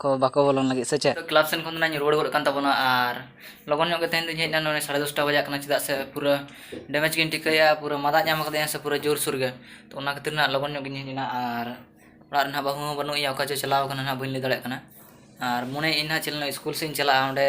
ᱠᱚ ᱵᱟᱠᱚ ᱵᱚᱞᱚᱱ ᱞᱟᱹᱜᱤᱫ ᱥᱮ ᱪᱮᱫ ᱠᱞᱟᱵᱽ ᱥᱮᱱ ᱠᱷᱚᱱ ᱫᱚ ᱱᱟᱦᱟᱜ ᱤᱧ ᱨᱩᱣᱟᱹᱲ ᱜᱚᱫ ᱟᱠᱟᱱ ᱛᱟᱵᱚᱱᱟ ᱟᱨ ᱞᱚᱜᱚᱱ ᱧᱚᱜ ᱜᱮ ᱛᱮᱦᱮᱧ ᱫᱚᱧ ᱦᱮᱡ ᱮᱱᱟ ᱱᱚᱜᱼᱚᱭ ᱥᱟᱲᱮ ᱫᱚᱥᱴᱟ ᱵᱟᱡᱟᱜ ᱠᱟᱱᱟ ᱪᱮᱫᱟᱜ ᱥᱮ ᱯᱩᱨᱟᱹ ᱰᱮᱢᱮᱡᱽ ᱜᱮᱧ ᱴᱷᱤᱠᱟᱹᱭᱮᱫᱼᱟ ᱯᱩᱨᱟᱹ ᱢᱟᱫᱟ ᱧᱟᱢ ᱟᱠᱟᱫᱤᱧᱟ ᱥᱮ ᱯᱩᱨᱟᱹ ᱡᱳᱨ ᱥᱳᱨ ᱜᱮ ᱛᱳ ᱚᱱᱟ ᱠᱷᱟᱹᱛᱤᱨ ᱱᱟᱦᱟᱜ ᱞᱚᱜᱚᱱ ᱧᱚᱜ ᱜᱮᱧ ᱦᱮᱡ ᱮᱱᱟ ᱟᱨ ᱚᱲᱟᱜ ᱨᱮ ᱱᱟᱦᱟᱜ ᱵᱟᱹᱦᱩ ᱦᱚᱸ ᱵᱟᱹᱱᱩᱜ ᱮᱭᱟ ᱚᱠᱟ ᱪᱚᱭ ᱪᱟᱞᱟᱣ ᱟᱠᱟᱱᱟ ᱱᱟᱦᱟᱜ ᱵᱟᱹᱧ ᱞᱟᱹᱭ ᱫᱟᱲᱮᱭᱟᱜ ᱠᱟᱱᱟ ᱟᱨ ᱢᱚᱱᱮᱭᱮᱫᱼᱟᱹᱧ ᱱᱟᱦᱟᱜ ᱪᱮᱫ ᱤᱥᱠᱩᱞ ᱥᱮᱫ ᱤᱧ ᱪᱟᱞᱟᱜᱼᱟ ᱚᱸᱰᱮ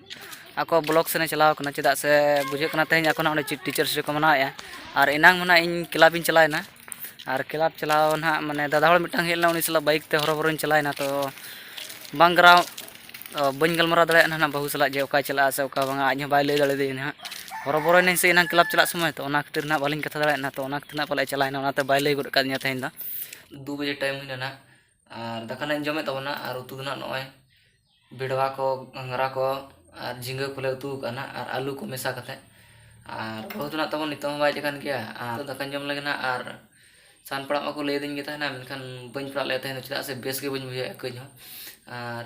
ᱟᱠᱚ ᱵᱞᱚᱠ ᱥᱮᱱᱮ ᱪᱟᱞᱟᱣ ᱠᱟᱱᱟ ᱪᱮᱫᱟᱜ ᱥᱮ ᱵᱩᱡᱷᱟᱹᱜ ᱠᱟᱱᱟ ᱛᱮᱦᱮᱧ ᱟᱠᱚ ᱱᱟᱦᱟᱜ ᱚᱸᱰᱮ ᱴᱤᱪᱟᱨᱥ ᱰᱮ ᱠᱚ ᱢᱟᱱᱟᱣᱮᱫᱼᱟ ᱟᱨ ᱮᱱᱟᱝ ᱢᱟ ᱱᱟᱦᱟᱜ ᱤᱧ ᱠᱞᱟᱵᱽ ᱤᱧ ᱪᱟᱞᱟᱣᱮᱱᱟ ᱟᱨ ᱠᱞᱟᱵᱽ ᱪᱟᱞᱟᱣ ᱱᱟᱦᱟᱜ ᱢᱟᱱᱮ ᱫᱟᱫᱟ ᱦᱚᱲ ᱢᱤᱫᱴᱟᱝ ᱦᱮᱡ ᱞᱮᱱᱟ ᱩᱱᱤ ᱥᱟᱞᱟᱜ ᱵᱟᱭᱤᱠ ᱛᱮ ᱦᱚᱨᱚ ᱵᱚᱨᱚᱧ ᱪᱟᱞᱟᱣᱮᱱᱟ ᱛᱚ ᱵᱟᱝ ᱜᱟᱨᱟᱣ ᱵᱟᱹᱧ ᱜᱟᱞᱢᱟᱨᱟᱣ ᱫᱟᱲᱮᱭᱟᱜ ᱠᱟᱱᱟ ᱱᱟᱦᱟᱜ ᱵᱟᱹᱦᱩ ᱥᱟᱞᱟᱜ ᱡᱮ ᱚᱠᱟᱭ ᱪᱟᱞᱟᱜᱼᱟ ᱥᱮ ᱚᱠᱟ ᱵᱟᱝᱟ ᱟᱡ ᱦᱚᱸ ᱵᱟᱭ ᱞᱟᱹᱭ ᱫᱟᱲᱮᱭᱟᱫᱤᱧᱟ ᱱᱟᱦᱟᱜ ᱦᱚᱨᱚ ᱵᱚᱨᱚᱭᱮᱱᱟᱹᱧ ᱥᱮ ᱮᱱᱟᱝ ᱠᱞᱟᱵᱽ ᱪᱟᱞᱟᱜ ᱥᱚᱢᱚᱭ ᱛᱚ ᱚᱱᱟ ᱠᱷᱟᱹᱛᱤᱨ ᱱᱟᱦᱟᱜ ᱵᱟᱹᱞᱤᱧ ᱠᱟᱛᱷᱟ ᱫᱟᱲᱮᱭᱟᱫ ᱱᱟᱦᱟᱜ ᱛᱚ ᱚᱱᱟ ᱠᱷᱟᱹᱛᱤᱨ ᱱᱟᱦᱟᱜ ᱯᱟᱞᱮᱫ ᱮ ᱪᱟᱞᱟᱣᱮᱱᱟ ᱚᱱᱟᱛᱮ ᱵᱟᱭ ᱞᱟᱹᱭ ᱜᱚᱫ ᱠᱟᱫᱤᱧᱟ ᱛᱮᱦᱮᱧ ᱫᱚ ᱫᱩ ᱵᱟᱡᱮ ᱴᱟᱭᱤᱢ ᱦᱩᱭᱱᱟ ᱱᱟᱦᱟᱜ ᱟᱨ ᱫᱟᱠᱟ ᱱᱟᱦᱟᱜ ᱤᱧ ᱡᱚᱢᱮᱫ ᱛᱟᱵᱚᱱᱟ ᱟᱨ ᱩᱛᱩ ᱫᱚ ᱱᱟᱦᱟᱜ ᱱᱚᱜᱼᱚᱭ ᱵᱷᱮᱰᱣᱟ ᱠᱚ ᱜᱷᱟᱸᱜᱽᱨᱟ ᱠᱚ ᱟᱨ ᱡᱷᱤᱸᱜᱟᱹ ᱠᱚᱞᱮ ᱩᱛᱩ ᱟᱠᱟᱫᱼᱟ ᱱᱟᱦᱟᱜ ᱟᱨ ᱟᱹᱞᱩ ᱠᱚ ᱢᱮᱥᱟ ᱠᱟᱛᱮᱫ ᱟᱨ ᱵᱟᱹᱦᱩ ᱫᱚ ᱱᱟᱦᱟᱜ ᱛᱟᱵᱚᱱ ᱱᱤᱛᱚᱜ ᱦᱚᱸ ᱵᱟᱭ ᱦᱮᱡ ᱟᱠᱟᱱ ᱜᱮᱭᱟ ᱟᱨ ᱱᱤᱛᱚᱜ ᱫᱟᱠᱟᱧ ᱡᱚᱢ ᱞᱮᱜᱮ ᱱᱟᱦᱟᱜ ᱟᱨ ᱥᱟᱦᱟᱱ ᱯᱟᱲᱟᱜ ᱢᱟᱠᱚ ᱞᱟᱹᱭ ᱟᱹᱫᱤᱧ ᱜᱮ ᱛᱟᱦᱮᱱᱟ ᱢᱮᱱᱠᱷᱟᱱ ᱵᱟᱹᱧ ᱯᱟᱲᱟᱜ ᱞᱮᱫᱼᱟ ᱛᱮᱦᱮᱧ ᱫᱚ ᱪᱮᱫᱟᱜ ᱥᱮ ᱵᱮᱥ ᱜᱮ ᱵᱟᱹᱧ ᱵᱩᱡᱷᱟᱹᱣᱮᱫᱼᱟ ᱠᱟᱹᱡ ᱦᱚᱸ ᱟᱨ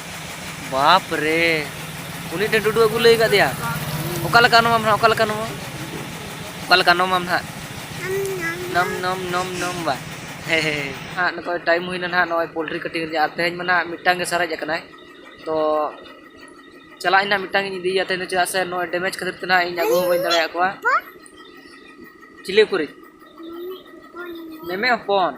ᱵᱟᱯ ᱨᱮ ᱩᱱᱤ ᱴᱷᱮᱱ ᱰᱩᱰᱩ ᱟᱹᱜᱩ ᱞᱟᱹᱭ ᱠᱟᱫᱮᱭᱟ ᱚᱠᱟ ᱞᱮᱠᱟ ᱱᱚᱢᱟᱢ ᱱᱟᱦᱟᱜ ᱚᱠᱟ ᱞᱮᱠᱟ ᱱᱚᱢᱟ ᱚᱠᱟ ᱞᱮᱠᱟ ᱱᱚᱢᱟᱢ ᱱᱟᱦᱟᱜ ᱱᱚᱢ ᱱᱚᱢ ᱱᱚᱢ ᱱᱚᱢ ᱵᱟ ᱦᱮ ᱦᱮ ᱦᱟᱸᱜ ᱱᱚᱜᱼᱚᱭ ᱴᱟᱭᱤᱢ ᱦᱩᱭᱱᱟ ᱱᱟᱦᱟᱜ ᱱᱚᱜᱼᱚᱭ ᱯᱳᱞᱴᱨᱤ ᱠᱟᱹᱴᱤᱝ ᱨᱮᱭᱟᱜ ᱟᱨ ᱛᱮᱦᱮᱧ ᱢᱟ ᱱᱟᱦᱟᱜ ᱢᱤᱫᱴᱟᱝ ᱜᱮ ᱥᱟᱨᱮᱡ ᱟᱠᱟᱱᱟᱭ ᱛᱚ ᱪᱟᱞᱟᱜ ᱟᱹᱧ ᱱᱟᱦᱟᱜ ᱢᱤᱫᱴᱟᱝ ᱤᱧ ᱤᱫᱤᱭᱟ ᱛᱮᱦᱮᱧ ᱫᱚ ᱪᱮᱫᱟᱜ ᱥᱮ ᱱᱚᱜᱼᱚᱭ ᱰᱮᱢᱮᱡᱽ ᱠᱷᱟᱹᱛᱤᱨ ᱛᱮ ᱱᱟᱦᱟᱜ ᱤᱧ ᱟᱹᱜᱩ ᱦᱚᱸ ᱵᱟᱹᱧ ᱫᱟᱲᱮᱭᱟᱜ ᱠᱚᱣᱟ ᱪᱤᱞᱤ ᱠᱚᱨᱮ ᱢᱮᱢᱮ ᱦᱚᱯᱚᱱ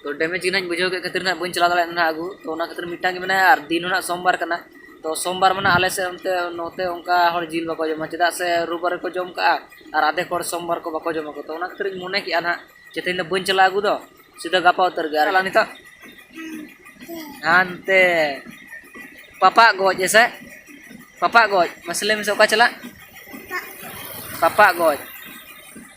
ᱛᱚ ᱰᱮᱢᱮᱡᱽ ᱜᱮ ᱱᱟᱦᱟᱜ ᱵᱩᱡᱷᱟᱹᱣ ᱠᱮᱫ ᱠᱷᱟᱹᱛᱤᱨ ᱱᱟᱦᱟᱜ ᱵᱟᱹᱧ ᱪᱟᱞᱟᱣ ᱫᱟᱲᱮᱭᱟᱜ ᱱᱟᱦᱟᱜ ᱟᱹᱜᱩ ᱛᱚ ᱚᱱᱟ ᱠᱷᱟᱹᱛᱤᱨ ᱢᱤᱫᱴᱟᱝ ᱜᱮ ᱢᱮᱱᱟᱭᱟ ᱟᱨ ᱫᱤᱱ ᱦᱚᱸ ᱱᱟᱦᱟᱜ ᱥᱳᱢᱵᱟᱨ ᱠᱟᱱᱟ ᱛᱚ ᱥᱳᱢᱵᱟᱨ ᱢᱟᱱᱮ ᱟᱞᱮ ᱥᱮᱫ ᱚᱱᱛᱮ ᱱᱚᱛᱮ ᱚᱱᱠᱟ ᱦᱚᱲ ᱡᱤᱞ ᱵᱟᱠᱚ ᱡᱚᱢᱟ ᱪᱮᱫᱟᱜ ᱥᱮ ᱨᱳᱵ ᱵᱟᱨ ᱨᱮᱠᱚ ᱡᱚᱢ ᱠᱟᱜᱼᱟ ᱟᱨ ᱟᱫᱷᱮᱠ ᱦᱚᱲ ᱥᱳᱢᱵᱟᱨ ᱠᱚ ᱵᱟᱠᱚ ᱡᱚᱢᱟᱠᱚ ᱛᱚ ᱚᱱᱟ ᱠᱷᱟᱹᱛᱤᱨ ᱤᱧ ᱢᱚᱱᱮ ᱠᱮᱫᱼᱟ ᱱᱟᱦᱟᱜ ᱡᱮ ᱛᱮᱦᱮᱧ ᱫᱚ ᱵᱟᱹᱧ ᱪᱟᱞᱟᱜᱼᱟ ᱟᱹᱜᱩ ᱫᱚ ᱥᱤᱫᱷᱟᱹ ᱜᱟᱯᱟ ᱩᱛᱟᱹᱨ ᱜᱮ ᱟᱨ ᱱᱤᱛᱚᱜ ᱦᱟᱱᱛᱮ ᱯᱟᱯᱟᱜ ᱜᱚᱡ ᱦᱮᱸᱥᱮ ᱯᱟᱯᱟᱜ ᱜᱚᱡ ᱢᱟᱥᱮ ᱞᱟᱹᱭ ᱢᱮᱥᱮ ᱚᱠᱟ ᱪᱟᱞᱟᱜ ᱯᱟᱯᱟᱜ ᱜᱚᱡ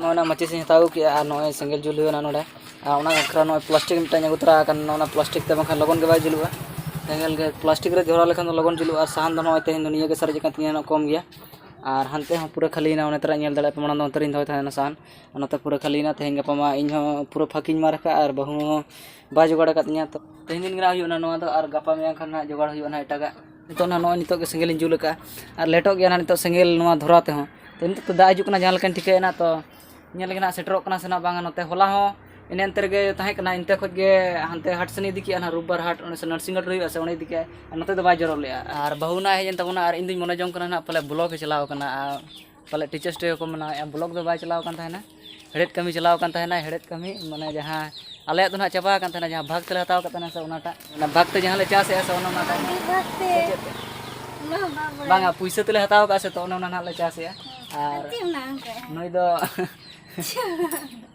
ᱱᱚᱜᱼᱚᱭ ᱱᱟ ᱢᱟᱹᱪᱤᱥ ᱤᱧ ᱦᱟᱛᱟᱣ ᱟᱹᱜᱩ ᱠᱮᱫᱼᱟ ᱟᱨ ᱱᱚᱜᱼᱚᱭ ᱥᱮᱸᱜᱮᱞ ᱡᱩᱞ ᱦᱩᱭᱩᱜᱼᱟ ᱱᱚᱸᱰᱮ ᱟᱨ ᱚᱱᱟ ᱵᱟᱠᱷᱨᱟ ᱱᱚᱜᱼᱚᱭ ᱯᱞᱟᱥᱴᱤᱠ ᱢᱤᱫᱴᱟᱝ ᱟᱹᱜᱩ ᱛᱚᱨᱟ ᱟᱠᱟᱱ ᱚᱱᱟ ᱯᱞᱟᱥᱴᱤᱠ ᱛᱮ ᱵᱟᱝᱠᱷᱟᱱ ᱞᱚᱜᱚᱱ ᱜᱮ ᱵᱟᱭ ᱡᱩᱞᱩᱜᱼᱟ ᱥᱮᱸᱜᱮᱞ ᱜᱮ ᱯᱞᱟᱥᱴᱤᱠ ᱨᱮ ᱫᱷᱚᱨᱟᱣ ᱞᱮᱠᱷᱟᱱ ᱫᱚ ᱞᱚᱜᱚᱱ ᱡᱩᱞᱩᱜᱼᱟ ᱟᱨ ᱥᱟᱦᱟᱱ ᱫᱚ ᱱᱚᱜᱼᱚᱭ ᱛᱮᱦᱮᱧ ᱫᱚ ᱱᱤᱭᱟᱹᱜᱮ ᱥᱟᱨᱮᱡ ᱟᱠᱟᱱ ᱛᱤᱧᱟᱹ ᱱᱚᱣᱟ ᱠᱚᱢ ᱜᱮᱭᱟ ᱟᱨ ᱦᱟᱱᱛᱮ ᱦᱚᱸ ᱯᱩᱨᱟᱹ ᱠᱷᱟᱹᱞᱤᱭᱮᱱᱟ ᱚᱱᱟ ᱛᱚᱨᱟᱧ ᱧᱮᱞ ᱫᱟᱲᱮᱭᱟᱜᱼᱟ ᱢᱟᱲᱟᱝ ᱫᱚ ᱚᱱᱛᱮ ᱨᱤᱧ ᱫᱚᱦᱚᱭ ᱛᱟᱦᱮᱱᱟ ᱥᱟᱦᱟᱱ ᱚᱱᱟᱛᱮ ᱯᱩᱨᱟᱹ ᱠᱷᱟᱹᱞᱤᱭᱮᱱᱟ ᱛᱮᱦᱮᱧ ᱜᱟᱯᱟ ᱢᱟ ᱤᱧ ᱦᱚᱸ ᱯᱩᱨᱟᱹ ᱯᱷᱟᱸᱠᱤᱧ ᱢᱟᱨ ᱟᱠᱟᱫᱼᱟ ᱟᱨ ᱵᱟᱹᱦᱩ ᱦᱚᱸ ᱵᱟᱭ ᱡᱳᱜᱟᱲ ᱟᱠᱟᱫᱤᱧᱟ ᱛᱚ ᱛᱮᱦᱮᱧ ᱫᱤᱱ ᱜᱮ ᱱᱟᱦᱟᱜ ᱦᱩᱭᱩᱜᱼᱟ ᱱᱚᱣᱟ ᱫᱚ ᱟᱨ ᱜᱟᱯᱟ ᱢᱮᱭᱟᱝ ᱠᱷᱟᱱ ᱱᱟᱦᱟᱜ ᱡᱳᱜᱟᱲ ᱦᱩᱭᱩᱜᱼᱟ ᱱᱟᱦᱟᱜ ᱮᱴᱟᱜᱟᱜ ᱱᱤᱛᱚᱜ ᱱᱟᱦᱟᱜ ᱱᱚᱜᱼᱚᱭ ᱱᱤᱛᱚᱜ ᱜᱮ ᱥᱮᱸᱜᱮᱞ ᱤᱧ ᱡᱩᱞ ᱟᱠᱟᱫᱼᱟ ᱟᱨ ᱞᱮᱴᱚᱜ ᱜᱮᱭᱟ ᱱᱟᱦᱟᱜ ᱱᱤᱛᱚᱜ ᱥᱮᱸᱜᱮᱞ ᱱᱚᱣᱟ ᱫᱷᱚᱨᱟᱣ ᱛᱮᱦᱚᱸ ᱛᱚ ᱱᱤᱛᱚᱜ ᱫᱚ ᱫᱟᱜ ᱦᱤᱡᱩᱜ ᱠᱟᱱᱟ ᱡᱟᱦᱟᱸ ᱞᱮᱠᱟᱧ ᱴᱷᱤᱠᱟᱹᱭᱮᱫ ᱱᱟᱦᱟᱜ ᱛᱚ ᱧᱮᱞ ᱞᱮᱜᱮ ᱱᱟᱦᱟᱜ ᱥᱮᱴᱮᱨᱚᱜ ᱠᱟᱱᱟ ᱥᱮ ᱱᱟᱦᱟᱜ ᱵᱟᱝᱟ ᱱᱚᱛᱮ ᱦᱚᱞᱟ ᱦᱚᱸ ᱮᱱᱮ ᱮᱱᱛᱮ ᱨᱮᱜᱮ ᱛᱟᱦᱮᱸ ᱠᱟᱱᱟ ᱮᱱᱛᱮ ᱠᱷᱚᱱ ᱜᱮ ᱦᱟᱱᱛᱮ ᱦᱟᱴ ᱥᱮᱱᱮ ᱤᱫᱤ ᱠᱮᱫᱼᱟ ᱱᱟᱦᱟᱜ ᱨᱳᱵᱽ ᱵᱟᱨ ᱦᱟᱴ ᱚᱸᱰᱮ ᱥᱮ ᱱᱟᱨᱥᱤᱝ ᱦᱳᱢ ᱦᱩᱭᱩᱜᱼᱟ ᱥᱮ ᱚᱸᱰᱮ ᱤᱫᱤ ᱠᱮᱫᱼᱟᱭ ᱟᱨ ᱱᱚᱛᱮ ᱫᱚ ᱵᱟᱭ ᱡᱚᱨᱚ ᱞᱮᱫᱼᱟ ᱟᱨ ᱵᱟᱹᱦᱩ ᱱᱟᱦᱟᱜ ᱮ ᱦᱮᱡ ᱮᱱ ᱛᱟᱵᱚᱱᱟ ᱟᱨ ᱤᱧᱫᱩᱧ ᱢᱚᱱᱮ ᱡᱚᱝ ᱠᱟᱱᱟ ᱱᱟᱦᱟᱜ ᱯᱟᱞᱮ ᱵᱞᱚᱠ ᱮ ᱪᱟᱞᱟᱣ ᱠᱟᱱᱟ ᱟᱨ ᱯᱟᱞᱮ ᱴᱤᱪᱟᱨᱥ ᱰᱮ ᱠᱚ ᱢᱟᱱᱟᱣᱮᱫᱼᱟ ᱵᱞᱚᱠ ᱫᱚ ᱵᱟᱭ ᱪᱟᱞᱟᱣ ᱟᱠᱟᱱ ᱛᱟᱦᱮᱱᱟ ᱦᱮᱲᱦᱮᱫ ᱠᱟᱹᱢᱤ ᱪᱟᱞᱟᱣ ᱟᱠᱟᱱ ᱛᱟᱦᱮᱱᱟ ᱦᱮᱲᱦᱮᱫ ᱠᱟᱹᱢᱤ ᱢᱟᱱᱮ ᱡᱟᱦᱟᱸ ᱟᱞᱮᱭᱟᱜ ᱫᱚ ᱱᱟᱦᱟᱜ ᱪᱟᱵᱟ ᱟᱠᱟᱱ ᱛᱟᱦᱮᱱᱟ ᱡᱟᱦᱟᱸ ᱵᱷᱟᱜᱽ ᱛᱮᱞᱮ ᱦᱟᱛᱟᱣ ᱟᱠᱟᱫ ᱛᱟᱦᱮᱱᱟ ᱥᱮ ᱚᱱᱟᱴᱟᱜ ᱚᱱᱟ ᱵᱷᱟᱜᱽ ᱛᱮ ᱡᱟᱦᱟᱸ ᱞᱮ ᱪᱟᱥᱮᱫᱼᱟ ᱥᱮ ᱚᱱᱟ ᱚᱱᱟᱴᱟᱜ ᱵᱟᱝᱟ ᱯᱩᱭᱥᱟᱹ ᱛᱮᱞᱮ ᱦᱟᱛᱟᱣ ᱟᱠᱟᱫᱼᱟ ᱥᱮ ᱛᱚ ᱚᱱᱟ ᱚᱱᱟ ᱱᱟᱦᱟᱜ ᱞᱮ ᱪᱟᱥᱮᱫᱼᱟ ᱟᱨ ᱱᱩᱭ ᱫᱚ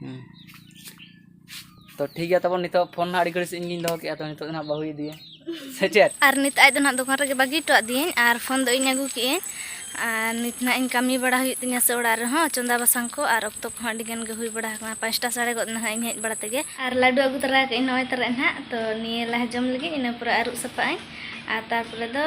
ᱦᱮᱸ ᱛᱚ ᱴᱷᱤᱠ ᱜᱮᱭᱟ ᱛᱟᱵᱚᱱ ᱱᱤᱛᱚᱜ ᱯᱷᱳᱱ ᱦᱟᱸᱜ ᱟᱹᱰᱤ ᱜᱷᱟᱹᱲᱤᱡ ᱥᱮᱫ ᱤᱧᱜᱤᱧ ᱫᱚᱦᱚ ᱠᱮᱫᱼᱟ ᱛᱚ ᱱᱤᱛᱚᱜ ᱫᱚ ᱦᱟᱸᱜ ᱵᱟᱹᱦᱩᱭ ᱤᱫᱤᱭᱟ ᱥᱮ ᱪᱮᱫ ᱟᱨ ᱱᱤᱛ ᱟᱡ ᱫᱚ ᱱᱟᱦᱟᱜ ᱫᱚᱠᱟᱱ ᱨᱮᱜᱮ ᱵᱟᱹᱜᱤ ᱦᱚᱴᱚ ᱟᱫᱤᱭᱟᱹᱧ ᱟᱨ ᱯᱷᱳᱱ ᱫᱚ ᱤᱧ ᱟᱹᱜᱩ ᱠᱮᱜᱼᱟᱹᱧ ᱟᱨ ᱱᱤᱛ ᱱᱟᱦᱟᱜ ᱤᱧ ᱠᱟᱹᱢᱤ ᱵᱟᱲᱟ ᱦᱩᱭᱩᱜ ᱛᱤᱧᱟ ᱥᱮ ᱚᱲᱟᱜ ᱨᱮᱦᱚᱸ ᱪᱚᱸᱫᱟ ᱵᱟᱥᱟᱝ ᱠᱚ ᱟᱨ ᱚᱠᱛᱚ ᱠᱚᱦᱚᱸ ᱟᱹᱰᱤ ᱜᱟᱱ ᱜᱮ ᱦᱩᱭ ᱵᱟᱲᱟ ᱟᱠᱟᱱᱟ ᱯᱟᱸᱪᱴᱟ ᱥᱟᱲᱮ ᱜᱚᱫ ᱱᱟᱦᱟᱜ ᱤᱧ ᱦᱮᱡ ᱵᱟᱲᱟ ᱛᱮᱜᱮ ᱟᱨ ᱞᱟᱹᱰᱩ ᱟᱹᱜᱩ ᱛᱟᱨᱟ ᱠᱟᱜ ᱤᱧ ᱱᱚᱜᱼᱚᱭ ᱛᱟᱨᱟ ᱱᱟᱦᱟᱜ ᱛᱚ ᱱᱤᱭᱟᱹ ᱞᱟᱦᱟ ᱡᱚᱢ ᱞᱟᱹᱜᱤᱫ ᱤᱱᱟᱹ ᱯᱚᱨᱮ ᱟᱹᱨᱩᱵ ᱥᱟᱯᱷᱟᱜ ᱟᱹᱧ ᱟᱨ ᱛᱟᱨᱯᱚᱨᱮ ᱫᱚ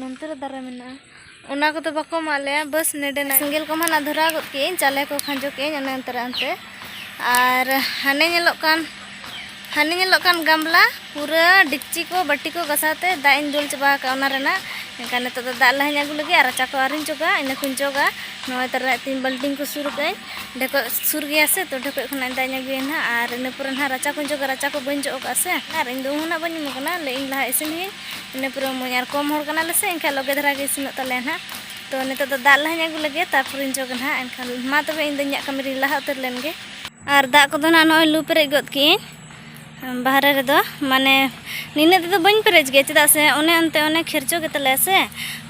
ᱱᱚᱱᱛᱮ ᱨᱮ ᱫᱟᱨᱮ ᱢᱮᱱᱟᱜᱼᱟ ᱚᱱᱟ ᱠᱚᱫᱚ ᱵᱟᱠᱚ ᱮᱢᱟᱜ ᱞᱮᱭᱟ ᱵᱟᱥ ᱱᱮᱰᱮᱱᱟᱜ ᱥᱮᱸᱜᱮᱞ ᱠᱚᱢᱟ ᱱᱟᱜ ᱫᱷᱚᱨᱟᱣ ᱜᱚᱫ ᱠᱮᱜ ᱟᱹᱧ ᱪᱟᱣᱞᱮ ᱠᱚ ᱠᱷᱟᱸᱡᱚ ᱠᱮᱜ ᱟᱹᱧ ᱚᱱᱮ ᱚᱱᱛᱮ ᱨᱮ ᱚᱱᱛᱮ ᱟᱨ ᱦᱟᱱᱮ ᱧᱮᱞᱚᱜ ᱠᱟᱱ ᱦᱟᱱᱮ ᱧᱮᱞᱚᱜ ᱠᱟᱱ ᱜᱟᱢᱞᱟ ᱯᱩᱨᱟᱹ ᱰᱮᱠᱪᱤ ᱠᱚ ᱵᱟᱹᱴᱤ ᱠᱚ ᱜᱟᱥᱟᱣ ᱛᱮ ᱫᱟᱜ ᱤᱧ ᱫᱩᱞ ᱪᱟᱵᱟ ᱟᱠᱟᱫ ᱚᱱᱟ ᱨᱮᱱᱟᱜ ᱮᱱᱠᱷᱟᱱ ᱱᱤᱛᱚᱜ ᱫᱚ ᱫᱟᱜ ᱞᱟᱦᱟᱧ ᱟᱹᱜᱩ ᱞᱟᱹᱜᱤᱫ ᱟᱨ ᱨᱟᱪᱟ ᱠᱚ ᱟᱹᱣᱨᱤᱧ ᱡᱚᱜᱟ ᱤᱱᱟᱹ ᱠᱚᱧ ᱡᱚᱜᱟ ᱱᱚᱜᱼᱚᱭ ᱛᱟᱨᱟ ᱛᱤᱧ ᱵᱟᱹᱞᱴᱤᱱ ᱠᱚ ᱥᱩᱨ ᱠᱟᱜ ᱟᱹᱧ ᱰᱷᱮᱠᱚᱡ ᱥᱩᱨ ᱜᱮᱭᱟ ᱥᱮ ᱛᱚ ᱰᱷᱮᱠᱚᱡ ᱠᱷᱚᱱᱟᱜ ᱫᱟᱜ ᱤᱧ ᱟᱹᱜᱩᱭᱟ ᱱᱟᱜ ᱟᱨ ᱤᱱᱟᱹ ᱯᱚᱨᱮ ᱱᱟᱜ ᱨᱟᱪᱟ ᱠᱚᱧ ᱡᱚᱜᱟ ᱨᱟᱪᱟ ᱠᱚ ᱵᱟᱹᱧ ᱡᱚᱜ ᱟᱠᱟᱫᱼᱟ ᱥᱮ ᱟᱨ ᱤᱧ ᱫᱚ ᱩᱢ ᱦᱚᱸ ᱱᱟᱜ ᱵᱟᱹᱧ ᱩᱢ ᱟᱠᱟᱱᱟ ᱞᱟᱹᱭᱮᱫ ᱟᱹᱧ ᱞᱟᱦᱟ ᱤᱥᱤᱱ ᱦᱩᱭᱩᱜᱼᱟ ᱤᱱᱟᱹ ᱯᱚᱨᱮ ᱢᱚᱡᱽ ᱟᱨ ᱠᱚᱢ ᱦᱚᱲ ᱠᱟᱱᱟᱞᱮ ᱥᱮ ᱮᱱᱠᱷᱟᱱ ᱞᱚᱜᱮ ᱫᱷᱟᱨᱟ ᱜᱮ ᱤᱥᱤᱱᱚᱜ ᱛᱟᱞᱮᱭᱟ ᱱᱟᱦᱟᱜ ᱛᱚ ᱱᱤᱛᱚᱜ ᱫᱚ ᱫᱟᱜ ᱞᱟᱦᱟᱧ ᱟᱹᱜᱩ ᱞᱮᱜᱮ ᱛᱟᱨᱯᱚᱨᱮᱧ ᱡᱚᱜᱟ ᱱᱟᱦᱟᱜ ᱮᱱᱠᱷᱟᱱ ᱢᱟ ᱛᱚᱵᱮ ᱤᱧ ᱫᱚ ᱤᱧᱟᱹᱜ ᱠᱟᱹᱢᱤ ᱨᱤᱧ ᱞᱟᱦᱟ ᱩᱛᱟᱹᱨ ᱞᱮᱱ ᱜᱮ ᱟᱨ ᱫᱟᱜ ᱠᱚᱫᱚ ᱱᱟᱦᱟᱜ ᱱᱚᱜᱼᱚᱭ ᱞᱩ ᱯᱮᱨᱮᱡ ᱜᱚᱫ ᱠᱮᱜᱼᱟᱹᱧ ᱵᱟᱦᱨᱮ ᱨᱮᱫᱚ ᱢᱟᱱᱮ ᱱᱤᱱᱟᱹᱜ ᱛᱮᱫᱚ ᱵᱟᱹᱧ ᱯᱮᱨᱮᱡ ᱜᱮᱭᱟ ᱪᱮᱫᱟᱜ ᱥᱮ ᱚᱱᱮ ᱚᱱᱛᱮ ᱚᱱᱮ ᱠᱷᱮᱨᱪᱚ ᱜᱮ ᱛᱟᱞᱮᱭᱟ ᱥᱮ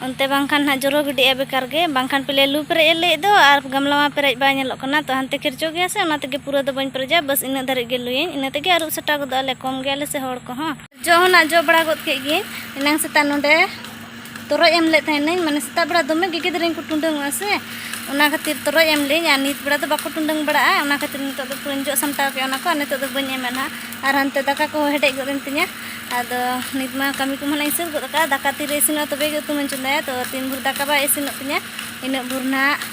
ᱚᱱᱛᱮ ᱵᱟᱝᱠᱷᱟᱱ ᱱᱟᱦᱟᱜ ᱡᱚᱨᱚ ᱜᱤᱰᱤᱜᱼᱟ ᱵᱮᱠᱟᱨ ᱜᱮ ᱵᱟᱝᱠᱷᱟᱱ ᱯᱮᱞᱮ ᱞᱩ ᱯᱮᱨᱮᱡ ᱮ ᱞᱟᱹᱭᱮᱫ ᱫᱚ ᱟᱨ ᱜᱟᱢᱞᱟ ᱢᱟ ᱯᱮᱨᱮᱡ ᱵᱟᱭ ᱧᱮᱞᱚᱜ ᱠᱟᱱᱟ ᱛᱚ ᱦᱟᱱᱛᱮ ᱠᱷᱮᱨᱪᱚ ᱜᱮᱭᱟ ᱥᱮ ᱚᱱᱟ ᱛᱮᱜᱮ ᱯᱩᱨᱟᱹ ᱫᱚ ᱵᱟᱹᱧ ᱯᱮᱨᱮᱡᱟ ᱵᱟᱥ ᱤᱱᱟᱹᱜ ᱫᱷᱟᱹᱨᱤᱡ ᱜᱮ ᱞᱩᱭᱟᱹᱧ ᱤᱱᱟᱹ ᱛᱮᱜᱮ ᱟᱹᱨᱩᱵ ᱥᱟᱴᱟᱣ ᱜᱚᱫᱚᱜᱼᱟᱞᱮ ᱠᱚᱢ ᱜᱮᱭᱟᱞᱮ ᱥᱮ ᱦᱚᱲ ᱠᱚᱦᱚᱸ ᱡᱚ ᱦᱚᱸ ᱡᱚ ᱵᱟᱲᱟ ᱜᱚᱫ ᱠᱮᱫ ᱜᱮ ᱮᱱᱟᱝ ᱥᱮᱛᱟᱜ ᱱᱚᱰᱮ ᱛᱚᱨᱚᱡ ᱮᱢ ᱞᱮᱫ ᱛᱟᱦᱮᱱᱟᱹᱧ ᱢᱟᱱᱮ ᱥᱮᱛᱟᱜ ᱵᱮᱲᱟ ᱫᱚᱢᱮ ᱜᱮ ᱜᱤᱫᱽᱨᱟᱹ ᱠᱚ ᱴᱩᱸᱰᱟᱹᱝᱚᱜᱼᱟ ᱥᱮ ᱚᱱᱟ ᱠᱷᱟᱹᱛᱤᱨ ᱛᱚᱨᱚᱡ ᱮᱢ ᱞᱮᱫᱟᱹᱧ ᱟᱨ ᱱᱤᱛ ᱵᱮᱲᱟ ᱫᱚ ᱵᱟᱠᱚ ᱴᱩᱸᱰᱟᱹᱝ ᱵᱟᱲᱟᱜᱼᱟ ᱚᱱᱟ ᱠᱷᱟᱹᱛᱤᱨ ᱱᱤᱛᱚᱜ ᱫᱚ ᱯᱩᱨᱟᱹᱧ ᱡᱚᱜ ᱥᱟᱢᱴᱟᱣ ᱠᱮᱫᱼᱟ ᱚᱱᱟ ᱠᱚ ᱟᱨ ᱱᱤᱛᱚᱜ ᱫᱚ ᱵᱟᱹᱧ ᱮᱢᱟ ᱱᱟᱦᱟᱜ ᱟᱨ ᱦᱟᱱᱛᱮ ᱫᱟᱠᱟ ᱠᱚ ᱦᱮᱰᱮᱡ ᱜᱚᱫ ᱮᱱ ᱛᱤᱧᱟ ᱟᱫᱚ ᱱᱤᱛ ᱢᱟ ᱠᱟᱹᱢᱤ ᱠᱚᱢᱟ ᱱᱟᱜ ᱤᱧ ᱥᱟᱹᱛ ᱜᱚᱫ ᱟᱠᱟᱫᱼᱟ ᱫᱟᱠᱟ ᱛᱤᱨᱮ ᱤᱥᱤᱱᱚᱜᱼᱟ ᱛᱚᱵᱮ ᱜᱮ ᱩᱛᱩ ᱢᱟᱹᱧ ᱪᱚᱸᱫᱟᱭᱟ ᱛᱚ ᱛᱤᱱ ᱵᱷᱳᱨ ᱫᱟᱠᱟ ᱵᱟᱭ ᱤᱥᱤᱱᱚᱜ ᱛᱤᱧᱟ ᱤᱱᱟᱹᱜ ᱵᱷᱳᱨ ᱱᱟᱦᱟᱜ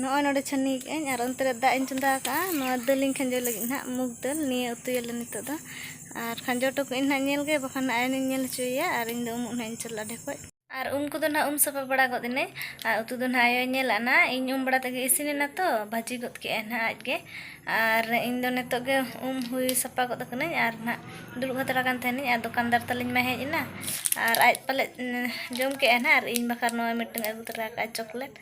ᱱᱚᱜᱼᱚᱭ ᱱᱚᱰᱮ ᱪᱷᱟᱹᱱᱤ ᱠᱟᱜ ᱟᱹᱧ ᱟᱨ ᱚᱱᱛᱮ ᱨᱮ ᱫᱟᱜ ᱤᱧ ᱪᱚᱸᱫᱟ ᱠᱟᱜᱼᱟ ᱱᱚᱣᱟ ᱫᱟᱹᱞ ᱤᱧ ᱠᱷᱟᱸᱡᱚ ᱞᱟᱹᱜᱤᱫ ᱱᱟᱜ ᱢᱩᱜᱽ ᱫᱟᱹᱞ ᱱᱤᱭᱟᱹ ᱩᱛᱩᱭᱟᱞᱮ ᱱᱤᱛᱚᱜ ᱫᱚ ᱟᱨ ᱠᱷᱟᱸᱡᱚ ᱦᱚᱴᱚ ᱠᱟᱜ ᱟᱹᱧ ᱱᱟᱜ ᱧᱮᱞ ᱜᱮ ᱵᱟᱠᱷᱟᱱ ᱱᱟᱜ ᱟᱭᱳ ᱤᱧ ᱧᱮᱞ ᱦᱚᱪᱚᱭᱮᱭᱟ ᱟᱨ ᱤᱧ ᱫᱚ ᱩᱢᱩᱜ ᱱᱟᱜ ᱤᱧ ᱪᱟᱞᱟᱜᱼᱟ ᱰᱷᱮᱠᱚᱡ ᱟᱨ ᱩᱢ ᱠᱚᱫᱚ ᱱᱟᱜ ᱩᱢ ᱥᱟᱯᱷᱟ ᱵᱟᱲᱟ ᱜᱚᱫ ᱮᱱᱟᱹᱧ ᱟᱨ ᱩᱛᱩ ᱫᱚ ᱱᱟᱜ ᱟᱭᱳᱭ ᱧᱮᱞ ᱟᱫᱼᱟ ᱱᱟᱜ ᱤᱧ ᱩᱢ ᱵᱟᱲᱟ ᱛᱮᱜᱮ ᱤᱥᱤᱱ ᱮᱱᱟ ᱛᱚ ᱵᱷᱟᱹᱡᱤ ᱜᱚᱫ ᱠᱮᱜ ᱟᱭ ᱱᱟᱜ ᱟᱡ ᱜᱮ ᱟᱨ ᱤᱧ ᱫᱚ ᱱᱤᱛᱚᱜ ᱜᱮ ᱩᱢ ᱦᱩᱭ ᱥᱟᱯᱷᱟ ᱜᱚᱫ ᱠᱟᱹᱱᱟᱹᱧ ᱟᱨ ᱱᱟᱜ ᱫᱩᱲᱩᱵ ᱦᱟᱛᱟᱲ ᱟᱠᱟᱱ ᱛᱟᱦᱮᱱᱤᱧ ᱟᱨ ᱫᱚᱠᱟᱱᱫᱟᱨ ᱛᱟᱹᱞᱤᱧ ᱢᱟᱭ ᱦᱮᱡ ᱮᱱᱟ ᱟᱨ ᱟᱡ ᱯᱟᱞᱮᱫ ᱡᱚᱢ ᱠᱮᱜ ᱟᱭ ᱱᱟᱜ ᱟᱨ ᱤᱧ ᱵᱟᱠᱷᱨᱟ ᱱᱚᱜᱼᱚᱭ ᱢᱤᱫᱴᱟᱹᱝ ᱮ ᱟᱹᱜᱩ ᱛᱚᱨᱟ ᱠᱟᱜᱼᱟ ᱪᱚᱠᱞᱮᱴ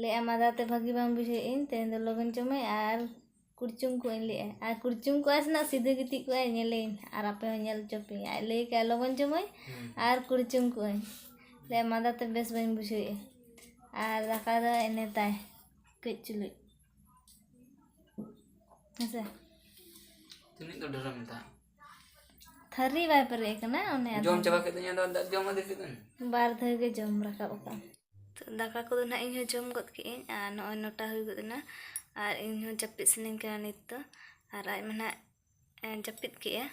ᱞᱟᱹᱭᱮᱫᱼᱟ ᱢᱟᱸᱫᱟ ᱛᱮ ᱵᱷᱟᱹᱜᱤ ᱵᱟᱝ ᱵᱩᱡᱷᱟᱹᱣᱮᱫ ᱟᱹᱧ ᱛᱮᱦᱮᱧ ᱫᱚ ᱞᱚᱜᱚᱱ ᱪᱚ ᱢᱟᱹᱭ ᱟᱨ ᱠᱩᱲᱪᱩᱝ ᱠᱚᱜ ᱟᱹᱧ ᱞᱟᱹᱭᱮᱫᱼᱟᱭ ᱟᱨ ᱠᱩᱲᱪᱩᱝ ᱠᱚᱜ ᱟᱭ ᱥᱮ ᱱᱟᱜ ᱥᱤᱫᱷᱟᱹ ᱜᱤᱛᱤᱡ ᱠᱚᱜ ᱟᱭ ᱧᱮᱞᱮᱭᱟᱹᱧ ᱱᱟᱜ ᱟᱨ ᱟᱯᱮ ᱦᱚᱸ ᱧᱮᱞ ᱦᱚᱪᱚ ᱯᱮᱭᱟᱹᱧ ᱟᱡ ᱞᱟᱹᱭ ᱠᱮᱫᱼᱟᱭ ᱞᱚᱜᱚᱱ ᱪᱚ ᱢᱟᱹᱭ ᱟᱨ ᱠᱩᱲᱪᱩᱝ ᱠᱚᱜ ᱟᱹᱧ ᱞᱟᱹᱭᱮᱫᱼᱟᱭ ᱢᱟᱸᱫᱟ ᱛᱮ ᱵᱮᱥ ᱵᱟᱹᱧ ᱵᱩᱡᱷᱟᱹᱣᱮᱫᱼᱟ ᱟᱨ ᱫᱟᱠᱟ ᱫᱚ ᱮᱱᱮ ᱛᱟᱭ ᱠᱟᱹᱡ ᱪᱩᱞᱩᱡ ᱦᱮᱸ ᱥᱮ ᱛᱤᱱᱟᱹᱜ ᱫᱚ ᱰᱷᱮᱨᱮᱢ ᱢᱮᱛᱟᱭᱟ ᱛᱷᱟᱹᱨᱤ ᱵᱟᱭ ᱯᱮᱨᱮᱡ ᱠᱟᱱᱟ ᱚᱱᱮ ᱡᱚᱢ ᱪᱟᱵᱟ ᱠᱮᱫ ᱫᱩᱧ ᱟᱫᱚ ᱫᱟᱜ ᱡᱚᱢ ᱟᱫᱮ ᱠᱮᱫᱟᱹᱧ ᱵᱟᱨ ᱫᱷᱟᱣ ᱜᱮ ᱡᱚᱢ ᱨᱟᱠᱟᱵ ᱟᱠᱟᱫ ᱫᱟᱠᱟ ᱠᱚᱫᱚ ᱱᱟᱦᱟᱜ ᱤᱧ ᱦᱚᱸ ᱡᱚᱢ ᱜᱚᱫ ᱠᱮᱫ ᱟᱹᱧ ᱟᱨ ᱱᱚᱜᱼᱚᱭ ᱱᱚᱴᱟ ᱦᱩᱭ ᱜᱚᱫ ᱮᱱᱟ ᱟᱨ ᱤᱧ ᱦᱚᱸ ᱡᱟᱹᱯᱤᱫ ᱥᱟᱱᱟᱧ ᱠᱟᱱᱟ ᱱᱤᱛ ᱫᱚ ᱟᱨ ᱟᱡ ᱢᱟ ᱱᱟᱦᱟᱜ ᱡᱟᱹᱯᱤᱫ ᱠᱮᱫᱼᱟ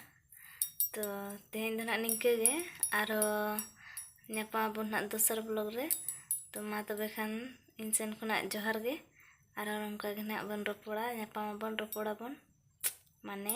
ᱛᱚ ᱛᱮᱦᱮᱧ ᱫᱚ ᱱᱟᱦᱟᱜ ᱱᱤᱝᱠᱟᱹ ᱜᱮ ᱟᱨᱦᱚᱸ ᱧᱟᱯᱟᱢ ᱟᱵᱚᱱ ᱱᱟᱦᱟᱜ ᱫᱚᱥᱟᱨ ᱵᱞᱚᱜᱽ ᱨᱮ ᱛᱚ ᱢᱟ ᱛᱚᱵᱮ ᱠᱷᱟᱱ ᱤᱧ ᱥᱮᱱ ᱠᱷᱚᱱᱟᱜ ᱡᱚᱦᱟᱨ ᱜᱮ ᱟᱨᱦᱚᱸ ᱱᱚᱝᱠᱟ ᱜᱮ ᱱᱟᱦᱟᱜ ᱵᱚᱱ ᱨᱚᱯᱚᱲᱟ ᱧᱟᱯᱟᱢ ᱟᱵᱚᱱ ᱨᱚᱯᱚᱲᱟᱵᱚᱱ ᱢᱟᱱᱮ